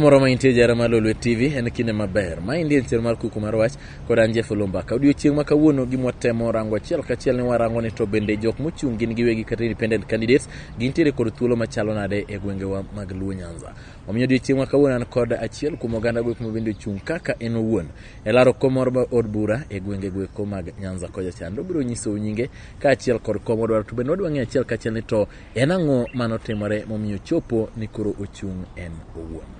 moro ma intie jara mar Lolwe TV en kinde maber. Ma indie chenro mar kuku mar wach kod an Jeff Lumbaka. Odiochieng' ma kawuono gimwa temo rango achiel kachiel ni warango ni to bende jok mochung' gin giwegi kata independent candidates gintiere kod thuolo machalo nade e gwengewa mag Luo Nyanza. Omiyo odiochieng' ma kawuono an kod achiel kuom oganda gwek ma bende ochung' kaka en owuon e laro kom moro mar od bura e gwenge gweko mag Nyanza kocha chande. Obiro nyisou nyinge kaachiel kod kom odwaro to bende wadwa ng'eyo achiel kachiel ni to En ang'o ma notimore momiyo chopo ni koro ochung' en owuon?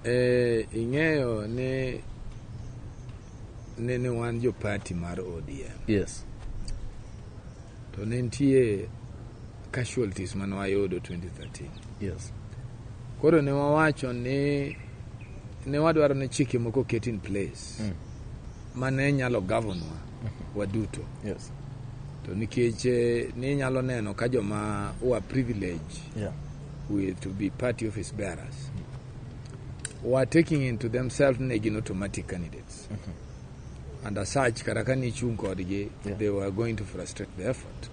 E, ing'eyo ni ne ne wan jo party mar ODM. Yes. To ne nitie casualties mane wayudo 2013. Yes. Koro ne wawacho ni ne wadwaro ni chike moko ket in place. Mm. ma ne nyalo gavonwa waduto yes. to nikech eh, ninyalo neno ka joma wa privilege yeah. with to be party office bearers mm-hmm. were taking into themselves ne gin automatic candidates mm -hmm. and as such kata ka nichung' kodgi yeah. they were going to frustrate the effort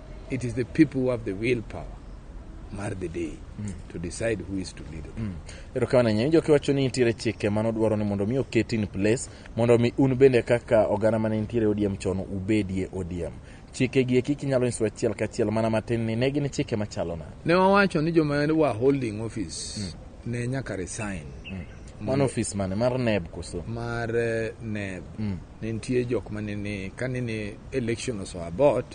it is the people who have the willpower mar the day mm. to decide who is to lead mm. erokamano nyinyi joki wacho ni nitiere chike mane odwaro ni mondo mi oket in place mondo mi un bende kaka oganda mane nitiere odiem chon ubedie odiem chike gi eki kinyalo nyiso achiel kachiel mana matin ni ne gin chike machalo na ne wawacho ni joma wa holding office mm. ne nyaka resign mm. mano office mane mar neb koso mar eh, neb mm. ne nitie jok mane ni kane ni election oso abot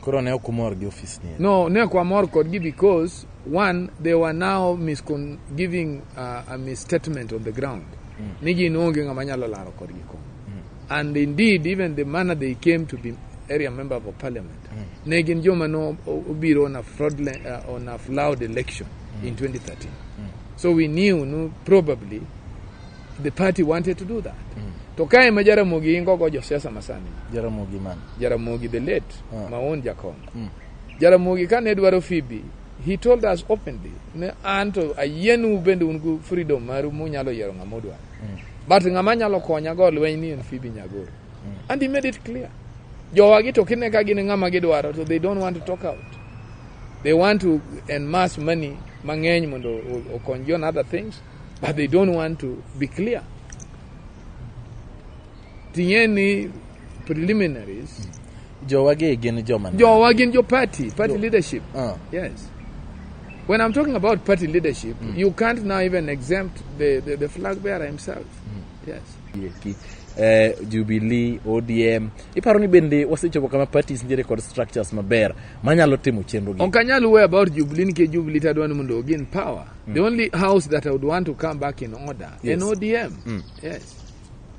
Koro ne ok umor gi office ni. No, ne ok wamor kodgi because one they were now miscon giving uh, a misstatement on the ground. Mm. Ni gin onge ng'ama nyalo laro kodgi kom. Mm. And indeed even the manner they came to be area member of parliament mm. ne gin joma no obiro on a fraudulent uh, on a flawed election mm. in 2013. Mm. So we knew no, probably The party wanted to do that. Mm. To ka ema Jaramogi ingo go josiasa masani. Jaramogi man. Jaramogi the late, ah. my own Jakon. Mm. Jaramogi ka ne dwaro Phoebe, he told us openly, ne an to ayienu bende un gu freedom maru munyalo yiero ng'ama udwaro. Mm. But ng'ama nyalo konya go lweny ni en Phoebe Nyagoro. Mm. And he made it clear. Jowagi to kine ka gin ng'ama gidwaro to they don't want to talk out. They want to amass money mang'eny mondo okony you on other things but they don't want to be clear tinye ni preliminaries jowa gi gin joma jowa gin jo party party leadership uh. yes when i'm talking about party leadership mm. you can't now even exempt the, the, the flag bearer himself mm. yes Yeki. Eh, Jubilee, ODM. Iparo ni bende wasechopo kama parties nitiere kod structures maber manyalo timo chenro gi. Ok anyal wuoyo about Jubilee nikech Jubilee tadwa ni mondo ogin power. Mm. The only house that I would want to come back in order yes. en ODM. Mm. Yes.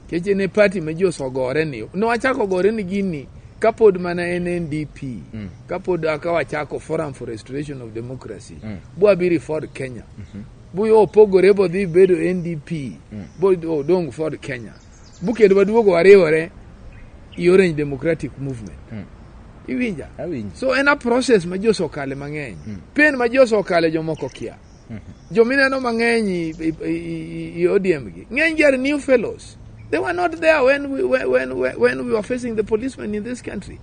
Keche ne party ma ji osogore ni. Ne wachako gore ni gini kapod mana en NDP. Mm. Kapod aka wachako Forum for Restoration of Democracy. Mm. Bwa biri Ford Kenya. Mm -hmm. Buyo opogore bodhi bedo NDP. Mm. Bodhi odong Ford Kenya. Bukendo maduogo wariwore i Orange Democratic Movement. Mm. Iwinja? Awinji. So en a process ma ji osekale mang'eny. Mm. Pain ma ji osekale jomoko kia. Mm -hmm. Jomineno mang'eny i ODM gi. Ng'eny gi are new fellows. They were not there when we, when, when, when we were facing the policemen in this country.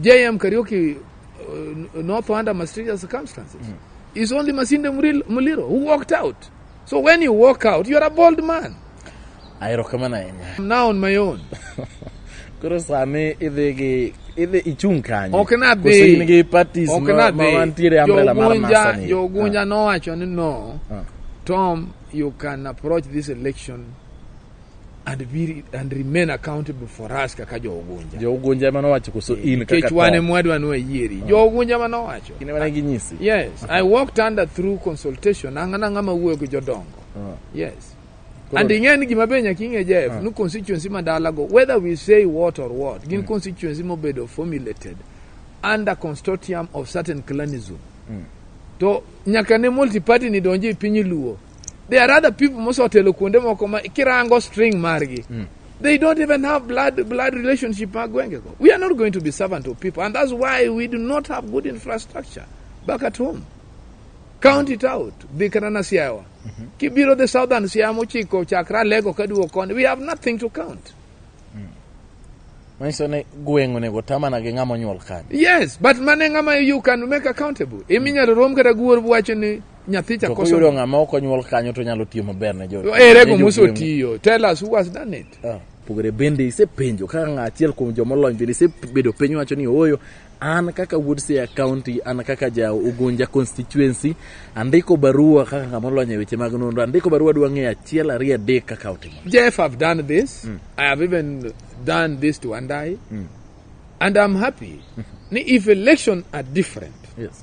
JM Kariuki uh, not under mysterious circumstances. Mm. It's only Masinde Muliro who walked out. So when you walk out, you're a bold man. I recommend him. I'm now on my own. Koro sani idhi gi idhi ichung' kanye? Ok na dhi. Koso in gi parties ok ma, ma wantiere umbrella mar masani. Jogunja ah. nowacho ni no. Ah. Tom, you can approach this election and, be, and remain accountable for us kaka jougunja jougunja ema nowacho koso in nikech wan ema wadwa ni wayieri mm. jougunja ema nowacho kinde mane ginyisi yes uh -huh. i walked under through consultation ang'a nang'a ma wuoyo gi jodongo uh -huh. yes Koro, and ing'e ni gima be nyaka ing'e jef uh -huh. ni constituency ma dalago whether we say what or what gin uh mm. -huh. constituency mobedo formulated under consortium of certain clanism uh mm. -huh. to nyaka ne multiparty ni donji e piny luo there are other people mosotelo kuonde moko ma kirango string margi mm. they don't even have blood blood relationship mag gwengego we are not going to be servant of people and that's why we do not have good infrastructure back at home county tout dhi kata na siawa mm -hmm. kibiro the southern siaya mochiko chakra lego kaduo koni we have nothing to count mm. manyiso ni gweng' onego tamana gi ng'ama onyuol kanyo yes but mane ng'ama you can make accountable iminyalo rom kata guor wacho ni nyathi cha koso yudo ngama ok onyuol kanyo to nyalo tiyo maber ne jo ere go muso tiyo tell us who has done it ah. pogore bende isepenjo kaka ng'a achiel kuom joma olony bende isebedo piny wacho ni ooyo an kaka wuod Siaya County, an kaka ja Ugunja constituency, andiko barua kaka ng'ama olony e weche mag nonro, andiko barua dwa ng'eyo achiel ariyo adek kaka otimo. Jeff, I've done this. Mm. I have even done this to Andai. Mm. And I'm happy. Mm. If election are different. Yes.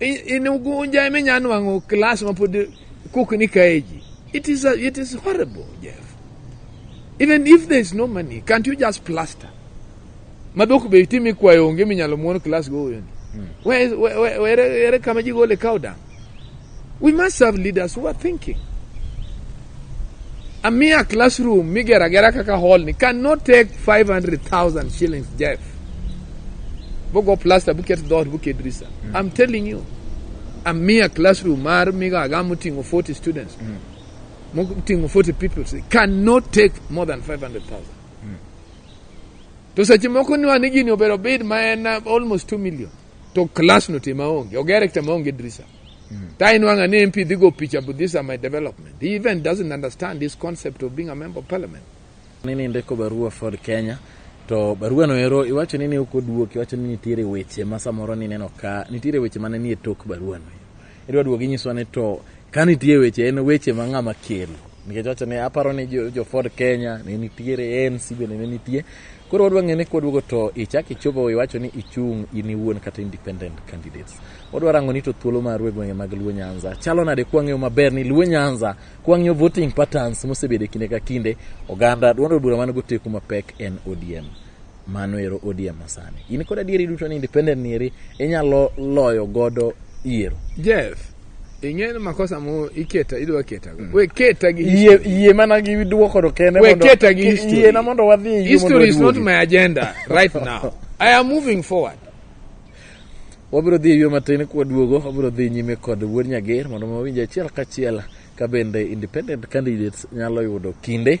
in ugunja ema inya nwang'o klas mapod kukni kae ji it is, a, it is horrible jeff even if there is no money can't you just plaster madhok be itimi ikwayo onge minyalo muon klas goyoni hmm. where, where, where, where, where kama ji gole cow down we must have leaders who are thinking A mere classroom migero agera kaka hall ni cannot take 500,000 shillings Jeff. Bogo plaster buket dot buket drisa. Mm. I'm telling you. A mere classroom mar miga agamu tingo 40 students. Mm. Tingo 40 people say, cannot take more than 500,000. Mm. To seche moko ni wan gini obero bid ma en uh, almost 2 million. To class no tima onge. Ogere kta ma onge drisa. Mm. That Nwanga MP, they go picture, but these are my development. He even doesn't understand this concept of being a member of parliament. Nini ndiko barua for Kenya to barua noero iwacho nini uko duok iwacho ni nitiere weche ma samoro ni neno ka nitiere weche mane nie tok barua no idwa duogo inyiso ne to ka nitie weche en weche ma ng'ama kelo nikech wacho ni aparo ni jo, jo Ford Kenya ne nitiere ANC bende ne nitie Koro wadwa ng'e ni kwaduogo to ichak ichopo iwacho ni ichung' in iwuon kata independent candidates. Wadwa rango ni to thuolo maru e gwenge mag Luo Nyanza chalo nade kwang'eyo maber ni Luo Nyanza kwang'eyo voting patterns mosebedo e kinde ka kinde oganda duond od bura man goteku mapek en ODM. Mano ero ODM masani. In kod adieri duto ni independent ni eri inyalo loyo godo yiero. Yes. ing'eyo ni makosa mo iketa idwa keta mm. we keta gi yie yie mana gi duoko do kende we keta gi history yie na mondo wadhi yie history is not my agenda right now i am moving forward wabiro dhi yie matin kwa duogo wabiro dhi nyime kod wuod nyager mondo wawinj achiel kachiel ka bende independent candidates nyalo yudo kinde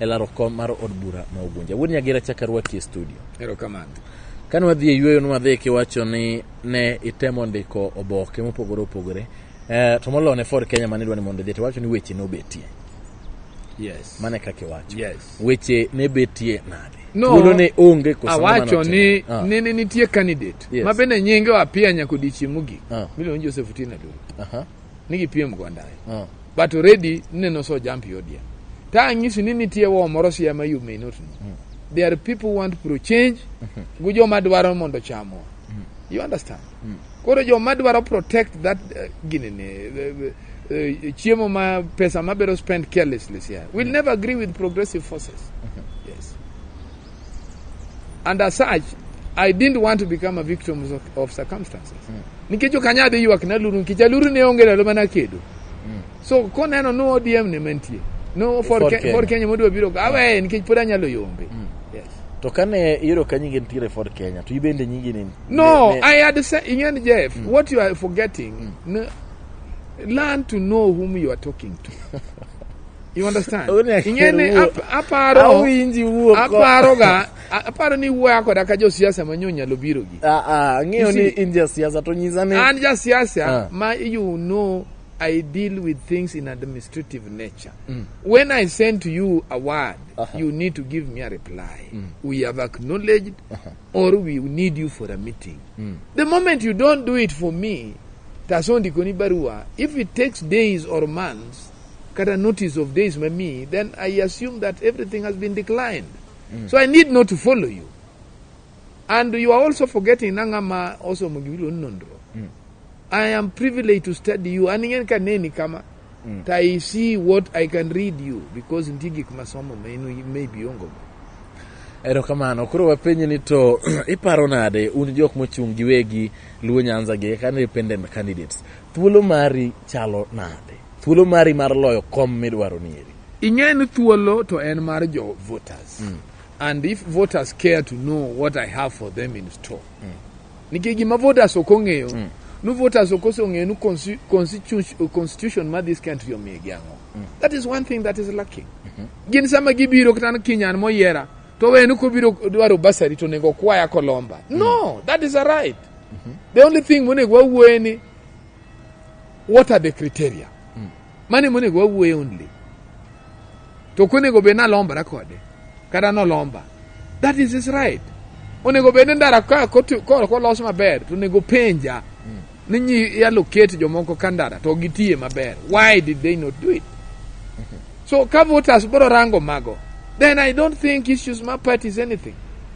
e laro kom mar od bura ma Ugunja. Wuod Nyagera achaka rwaki e studio. Erokamano. Kane wadhi e yueyo nwadhi kiwacho ni ne itemo ndiko oboke mopogore opogore eh, to moloyo ne Ford Kenya mane idwa ni mondo idhi to wacho ni weche nobetie. Yes. Mane kaka iwacho. Yes. Weche ne betie nade? No, Thuolo ne onge koso ng'ama awacho notimo? ni Ah, ne ne nitie candidate Yes. ma bende nyinge wapia nyaka odiechieng' mogik Ah. miluongo ni Joseph Otieno Aduong'. aha. ni gipiem go ndaye uh. Ah. but already neno so jump yodia ta ang'isi ni nitie wo moro siya ma you may not know mm. there are people want pro change mm -hmm. gu joma dwaro mondo chamwa mm. you understand mm. koro joma dwaro protect that uh, eh, ginene uh, eh, uh, eh, uh, chiemo ma pesa mabiro spend carelessly siya will mm. never agree with progressive forces mm -hmm. And as such, I didn't want to become a victim of, of circumstances. Mm. Nikech ok anyadhi ywak na luru nikech aluru ne onge ndalo mana kedo. Mm. So koneno no ODM ne mantie. No for, for, Kenya. for Kenya modwa biro awe mm. nikech pod anyalo yombe. Mm. Yes. To kane iyudo ka nyingi nitiere for Kenya to ibende nyingi ni No, ne, ne, I had said ing'eni Jeff, mm. what you are forgetting, mm. learn to know whom you are talking to. You understand? Ing'eni aparo awinji wuok. Aparo ga aparo ni wuoya koda ka josiasa manyo nyalo biro gi. Ah ah, ng'eyo ni in jasiasa to nyisa ni. An jasiasa ah. ma you know I deal with things in administrative nature. Mm. When I send to you a word, uh -huh. you need to give me a reply. Mm. We have acknowledged uh -huh. or we need you for a meeting. Mm. The moment you don't do it for me, tasondikoni barua, if it takes days or months, kata notice of days ma mi then i assume that everything has been declined mm. so i need not to follow you and you are also forgetting nanga ma osomo gibilo nondro mm. i am privileged to study you an ing'en ka neni kama mm. to i see what i can read you because nitie gik masomo ma in maybe ongogo erokamano koro wapenyi ni to iparo nade un jok mochung' giwegi luo nyanza gi kaka independent candidates Thuolo mari chalo nade? Thuolo mari mar loyo kom midwaro ni eri? Ing'e ni thuolo to en mar jo voters. Mm. And if voters care to know what I have for them in store. Mm. Nikech gima voters ok ong'eyo, mm. nu voters ok osong'eyo nu constitution, constitution ma this country omigi ang'o. Mm. That is one thing that is lacking. Mm -hmm. Gin sama gibiro kata ni kinyan moyiera to wenu kobiro dwaro basari to nego kwaya kolomba. Mm. No, that is a right. -hmm. the only thing monego wawuoye ni what are the criteria mm. mane monego wawuoye only to konego bed nalombra kode kata nolomba that is his right onego bed ni ndara kolos maber to onego penja mm. ni nyi yaloket jomoko ka ndara to gitiye maber why did they not do it mm -hmm. so ka voters bro rango mago then i don't think issues ma parties anything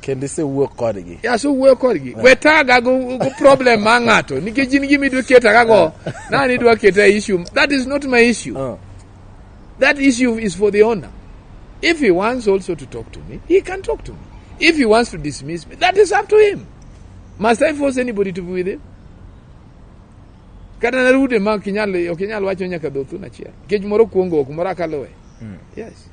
kendo isewuo kodgi asewuoyo kodgi we taga go go problem ma ng'ato nikech in gima idwa keta kago nani idwa keta e issue that is not my issue Ah, that issue is for the owner if he wants also to talk to me he can talk to me if he wants to dismiss me that is up to him must i force anybody to be with him kata narude ma ok inyal ok inyal wacho nyaka dhothun achiel nikech moro kuongo ok moro akaluwe yes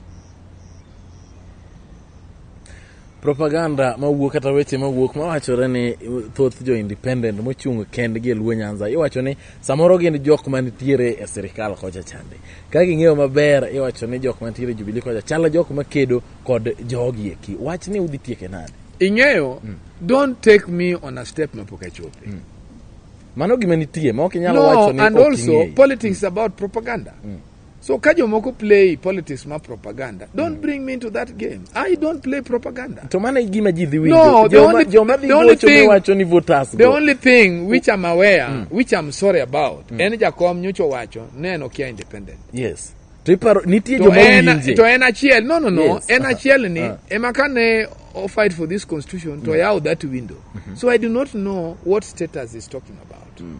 propaganda mawuok kata weche mawuok mawachore ni thoth jo independent mochung' kendgi e Luo Nyanza iwacho ni samoro gin jok manitiere e sirikal kocha chande ka ging'eyo maber iwacho ni jok manitiere e Jubilee kocha chalo jok makedo kod jogi eki wach ni udhi tieke nade ing'eyo mm. don't take me on a step mapok achope mm. mano gima nitie ma ok inyalo no, wacho ni and also politics mm. about propaganda mm. So ka jomoko play politics ma propaganda, don't mm. bring me into that game. I don't play propaganda. To mana gima ji dhi winjo. No, the only, the only thing, wacho ni voters the only thing which I'm aware, mm. which I'm sorry about, mm. en jakom nyocha wacho neno kia independent. Yes. To iparo nitie joma winje. To en achiel, no no no, yes. en achiel ni uh. Ah. ema kane o fight for this constitution to mm. yaw that window. Mm -hmm. So I do not know what status is talking about. Mm.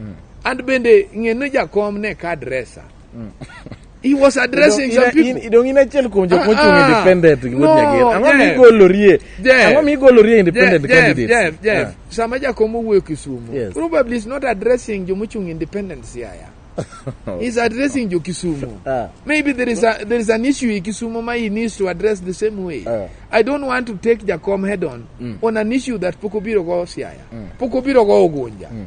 Mm. And bende ng'e ni jakom ne ka adresa. Mm. He was addressing some people. Idong in achiel kuom jok ah, mochung' ah. independent gi wuod Nyagir. Ang'o mi igolorie? Ang'o mi igolorie independent candidates? Jeff, Jeff, ah. sama jakom owuoyo Kisumu, yes. probably is not addressing joma ochung' independent siaya. He's addressing jo Kisumu. Uh, Maybe there is a there is an issue in Kisumu ma he needs to address the same way. Uh, I don't want to take Jacom head on mm. on an issue that Pokobiro go Siaya. Mm. Pokobiro go Ogunja. Mm.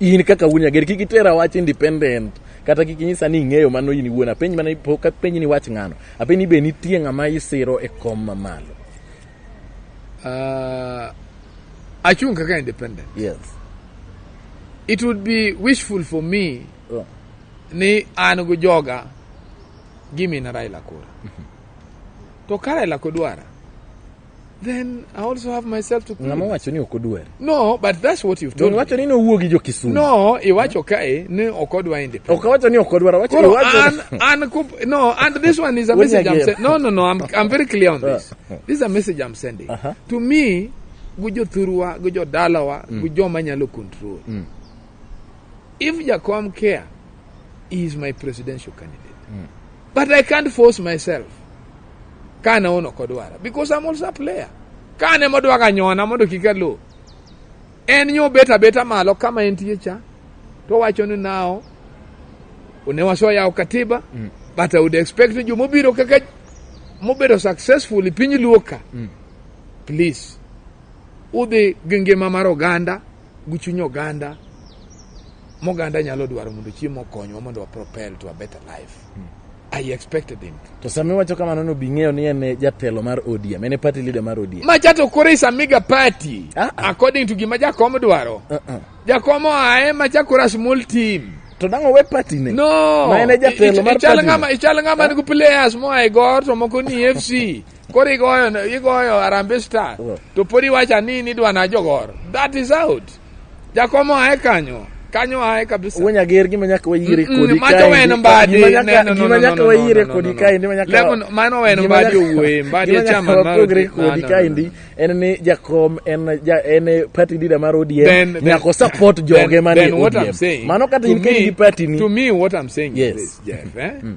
in kaka wuon nyager kik itera wach independent kata kik inyisa ni ing'eyo mano in iwuon apenji mana pok apenji ni wach ng'ano apenji ni be nitie ng'ama isiro e kom mamalo uh, achung' kaka independent yes it would be wishful for me oh. ni an gi joga gimina raila kura mm -hmm. to ka raila kodwara then I also have myself to ng'ama please. wacho ni ok odwari No, but that's what you've told Don me. wacho ni nowuo gi jokisumu No, iwacho kae ni ok odwa independent. ok awacho ni ok odwaro wacho Koro iwacho an, an, kup- no, and this one is a When message you I'm get- sending. No, no, no, I'm, I'm very clear on this. This is a message I'm sending. To me, gujo thurwa, gujo dalawa, gujo manyalo control. If Jakom care, he is my presidential candidate. Mm. But I can't force myself. Kana ono kodwara because I'm also a player. Kane modwa ka nyona mondo kik alo. En nyo beta beta malo kama entie cha to wacho ni nao ne wasoyawo katiba mm. but I would expect ni jomobiro kaka mobedo successful piny luoka mm. please udhi gi ngima mar oganda gi chuny oganda moganda nyalo dwaro mondo chiemo okonywa mondo wa propel to a better life hmm. I expected him. To sami wacho kamano no bing'eyo ni en jatelo mar ODM, en party leader mar ODM. Ma chato kore is a mega party uh -uh. according to gima jakom dwaro. Uh -uh. Jakom ae ma chakora small team. To dango we party ne. No. Ma en jatelo mar party. Ichal ngama, ichal ngama uh -huh. ni players mo ai gor to moko ni FC. Koro igoyo igoyo Harambee Star mm. to pod iwacha ni nidwa na jogor. That is out. Jakomo ae kanyo. Kanyo ae kabisa. Wanya ger gima nyaka wayire mm, mm, kodi kai. Macho wen mbadi. Gima nyaka wayire kodi kai ndi manyaka. Lemon mano wen mbadi owuoye mbadi e chama maro. Pogre kodi kai ndi en ni Jakom en ja en party leader mar ODM nyaka support joge mani ODM. Mano kata in kendi party ni. To me what I'm saying yes. is this Jeff, eh? Mm.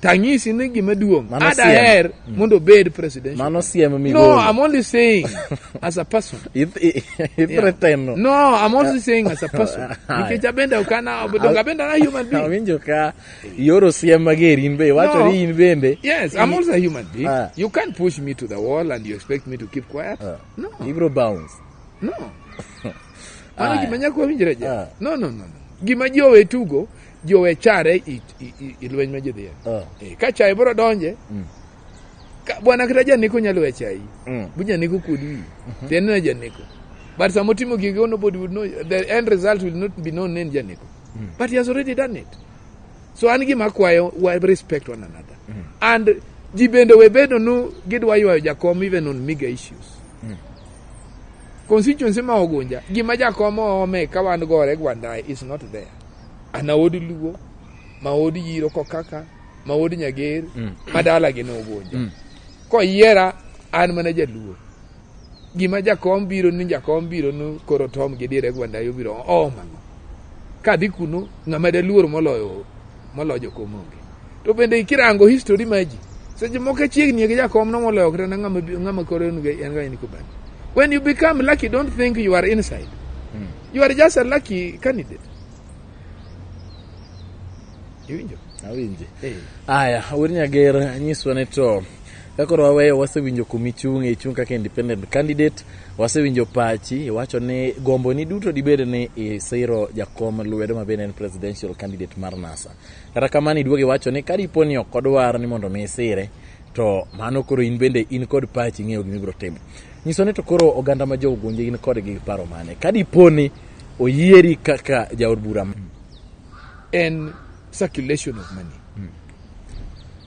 tanyisi ni gima duong' Mano siem. adaher mondo obed presidential Mano siem no migolo. i'm only saying as a person Ith- i- i- Yeah. threaten no. no i'm also saying as a person Aye. nikech abende ok ana donge abende ana human being Awinjo ka ioro siem mager in be iwacho No. ni in bende yes i'm also a human being Ah. you can't push me to the wall and you expect me to keep quiet Ah. no ibro bounce. no mano Aye. gima nyako winjre je Ah. no no no no. gima ji owe tugo ji owe chare i, i, i, i lweny ma ji dhiye Ah. Eh, ka chaye biro donje Mm. ka- bwana kata janeko nyalo we chayi Mm. bu janeko kod wi tiende na janeko but sama otimo gige oh, nobody would know the end result will not be known in janeko but he has already done it so an gima akwayo wa respect one another and ji bende we bedo nu gidwa ywayo jakom even on miga issues constituency ma ogunja gima jakom oome ka wan gore gwandae is not there an aod luo ma od yiro kokaka ma od nyager mm. ma dalagi nogunja mm. koyiera an mana jaluo gima jakom biro ni jakom biro ni koro tom gi dire gwanda yo biro o mano ka dhi kuno ng'ama daluor moloyo moloyo jokom onge to bende kirango history ma ji seche moko chiegni gi jakom no moloyo kata ng'ama koro en ga en ga in kubani when you become lucky don't think you are inside mm. You are just a lucky candidate. Iwinjo? Awinje. Eh. Aya, Awir Nyager, nyiswa ne to ka koro waweyo wasewinjo kuma ichung' ichung' kaka independent candidate wasewinjo pachi iwacho ni gomboni duto dibed ni isiro jakom lwedo ma bende en presidential candidate mar nasa kata kamano iduogo iwacho ni ka dipo ni ok odwar ni mondo mi isire to mano koro in bende in kod pachi ing'eyo gima ibiro timo nyiso ni to koro oganda ma jogunje in kod gi paro mane ka dipo ni oyieri kaka jaod bura en circulation of money hmm.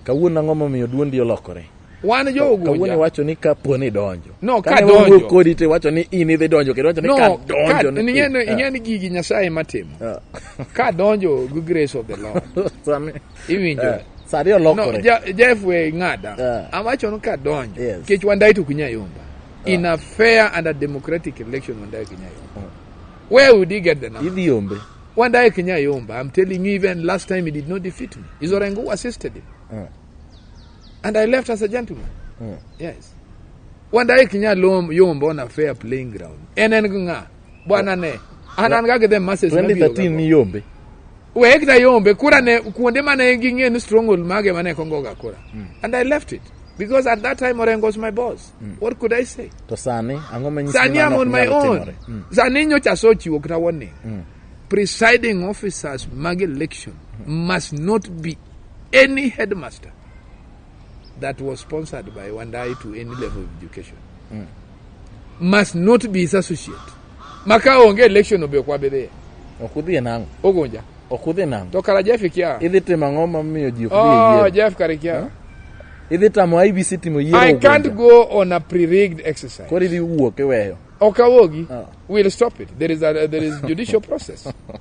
kawuono ang'o momiyo duondi olokore wan jogunja kawuono iwacho ni ka po ni donjo no ka donjo kodi te wacho ni in idhi donjo kendo wacho ni no, ka donjo ni ing'e ni ah. ing'e ni gigi nyasaye matimo ah. ka donjo gi grace of the lord iwinjo eh, sani olokore no, ja, jeff we ng'ada yeah. awacho ni kadonjo yes. kech wandai to kunyayomba yeah. in a fair and a democratic election wandai kinyayomba yeah. where would he get the number idhi yombe wandai kinyayomba i'm telling you even last time he did not defeat me is orengo who assisted him yeah. and i left as a gentleman yeah. yes wandai kinyayomba on a fair playing ground en en ng'a bwana ne an an ga gi the masses 2013 ni yombe we kita yombe kura ne kuonde mane ging'e ni stronghold mage mane kongoga kura mm. and i left it because at that time Orengo was my boss. Mm. What could I say? To Sani, Sani I'm on my own. Mm. Sani nyocha sochi wokita warning. Mm. Presiding officers mag election mm. must not be any headmaster. that was sponsored by Wandai to any level of education mm. must not be his associate. Maka onge election obe kwa bebe. Okudhi nango. Ogonja. Okudhi nango. To kala Jeff kia. Idhi timo ang'o ma miyo ji okudhi yiero? Oh, Jeff kare kia. Huh? Idhi tamo IBC timo yiero I can't go on a pre-rigged exercise. Kori idhi wuok iweyo. Okawogi. Oh. We'll stop it. There is a, there is judicial process.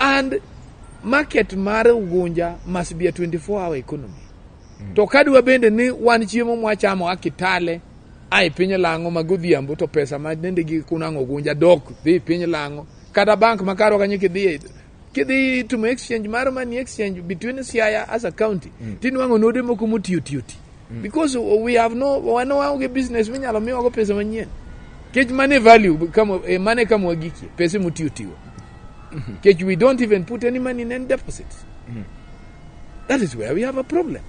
And market mar Ugunja must be a 24 hour economy. Mm. To kadwa bende ni wan chiemo mwachamo a Kitale a e piny Lang'o ma godhiambo to pesa ma nende gi kunang'o Ugunja dok dhi e piny Lang'o kata bank ma karo kanyo kidhi kidhi timo exchange mar money exchange between Siaya as a county mm. tinwang'o node moko motiyo tiyo ti Mm. Because we have no, wana waonge business minyalo miwago pesa manyien. Kech mane value, kama, eh, mane kama wagikie, pesa mutiyo tiyo. Mm-hmm. Kech we don't even put any money in any deposits. Mm. That is where we have a problem.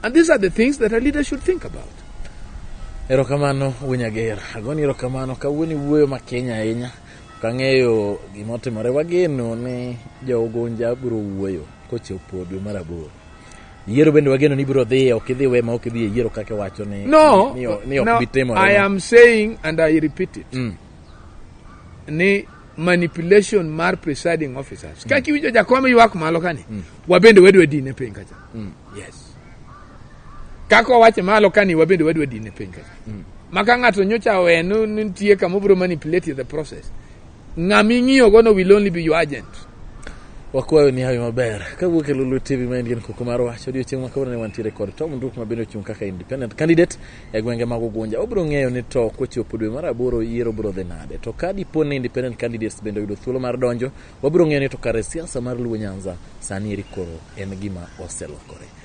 And these are the things that a leader should think about. Erokamano Winyager. Agoni erokamano kawuoni wuoyo ma Kenya ahinya. Kang'eyo gima otimore wageno ni jo Ugunja biro wuoyo kochopo dwe mar aboro. Yiero bende wageno ni ibiro dhi, ok idhi we ma ok idhi e yiero kaka iwacho ni no, ni, ni, ni ok no, bitimore. I am saying and I repeat it. Mm. Ni manipulation mar presiding officers. Mm. Kaki winjo jakom ywak malo kani. Mm. Wabende wedwe dine piny kacha. Mm. Yes. Kako wache malo kani wabende wedwe dine piny kacha. Mm. Maka ng'ato nyocha wenu nitie kama obiro manipulate the process. Ng'ama ing'iyogono will only be your agent. Wakwayo ni hawi maber. Kawuok e Lulu TV ma en gin kuku mar wach, odiochieng' ma kawuono ne wantiere kod Tom Nduk ma bende ochung' kaka independent candidate e gwenge mag Ugunja. Obiro ng'eyo ni to kochopo dwe mar aboro yiero biro dhi nade. To ka dipo ni independent candidates bende oyudo thuolo mar donjo, wabiro ng'eyo ni to kare siasa mar Luo Nyanza sani eri koro en gima oselokore.